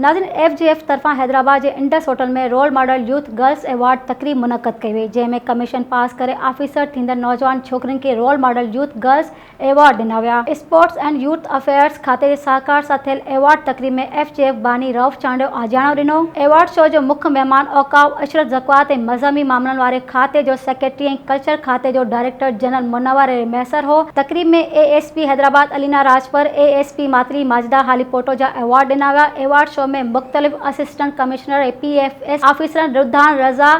ناظرين F G F طرفان حيدرآباد جي Indus hotel ۾ role model youth girls award تقريب منعقد ڪئي وئي جنهن ۾ ڪميشن پاس ڪري آفيسر ٿيندڙ نوجوان ڇوڪرين کي role model youth girls award ڏنا ويا. اسپورٽس اينڊ يوٿ افيئرز کاتي جي سهڪار سان ٿيل ايوارڊ تقريب ۾ ايف جي ايف باني رئوف چانڊيو آجياڻو ڏنو. ايوارڊ شو جو مک مهمان اوقاف، عشرت زڪوات ۽ مذهبي معاملن واري کاتي جو سيڪريٽري ۽ ڪلچر کاتي جو ڊائريڪٽر جنرل منور علي مهسر هو. تقريب ۾ A S P Hyderabad Alina Rajpar, A S P Matli Majida Halepoto جا ايوارڊ ڏنا ويا. ايوارڊ شو ۾ مختلف assistant commissioner ۽ P F S آفيسرن رڌان رضا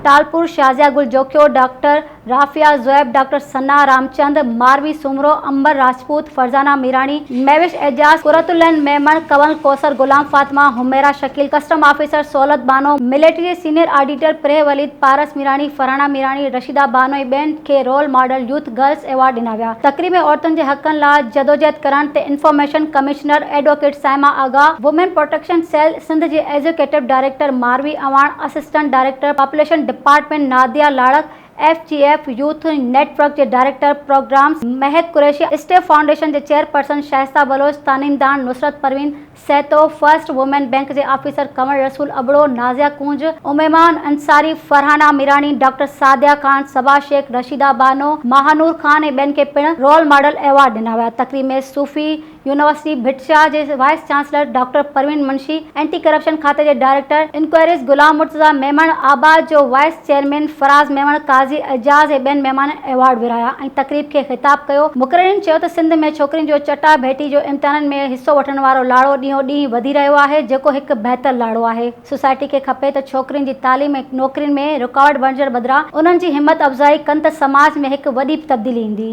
ٽالپر، شازيا گل جوکيو، ڊاڪٽر رافعه زويب، ڊاڪٽر ثنا رامچند، ماروي سومرو، امبر راجپوت، فرزانه ميراڻي، مهوش اعجاز، قرت العين Memon, Kanwal Kausar, Ghulam Fatima, Humaira Shakeel, custom officer Sahulat Bano, military جي سينيئر آڊيٽر پريهه وليد، پارس ميراڻي، فرحانه ميراڻي، رشيده بانو ۽ ٻين کي role model youth girls award ڏنا ويا. تقريب ۾ عورتن جي حقن لا جدوجهد ڪرڻ تي information commissioner advocate Saima Agha, women protection cell Sindh جي executive director Marvi Awan, assistant director population department Nadia Larik, F G F youth network جي director programmes Mehak Qureshi, step foundation جي چيئرپرسن شائسته بلوچ، تعليمدان Nusrat Parveen, Sahito, first women bank جي آفيسر ڪنور رسول ابڙو، نازيا ڪونج، اميمه انصاري، فرحانه ميراڻي، ڊاڪٽر سعديه خان، صبا شيخ، رشيده بانو، ماهانور خان ۽ ٻين کي پڻ رول ماڊل ايوارڊ ڏنا ويا. تقريب ۾ صوفي يونيورسٽي ڀٽشاهه جي vice chancellor doctor Parveen Munshi, anti corruption کاتي جي ڊائريڪٽر انڪوائريز غلام مرتضيٰ ميمڻ، آباد جو وائيس چيئرمين فراز ميمڻ، قاضي اعجاز ۽ ٻين مهمانن ايوارڊ ورهايا ۽ تقريب کي خطاب ڪيو. مقررين چيو ته سنڌ ۾ ڇوڪرين جو چٽا ڀيٽي جو امتحانن ۾ حصو وٺڻ وارو لاڙو ڏينهون ڏينهن وڌي رهيو آهي جيڪو هڪ بهتر لاڙو آهي. سوسائٽي کي کپي ته ڇوڪرين جي تعليم ۽ نوڪرين ۾ رڪاوٽ بڻجڻ بدران انهن جي همت افزائي ڪن ته سماج ۾ هڪ وڏي تبديلي ايندي.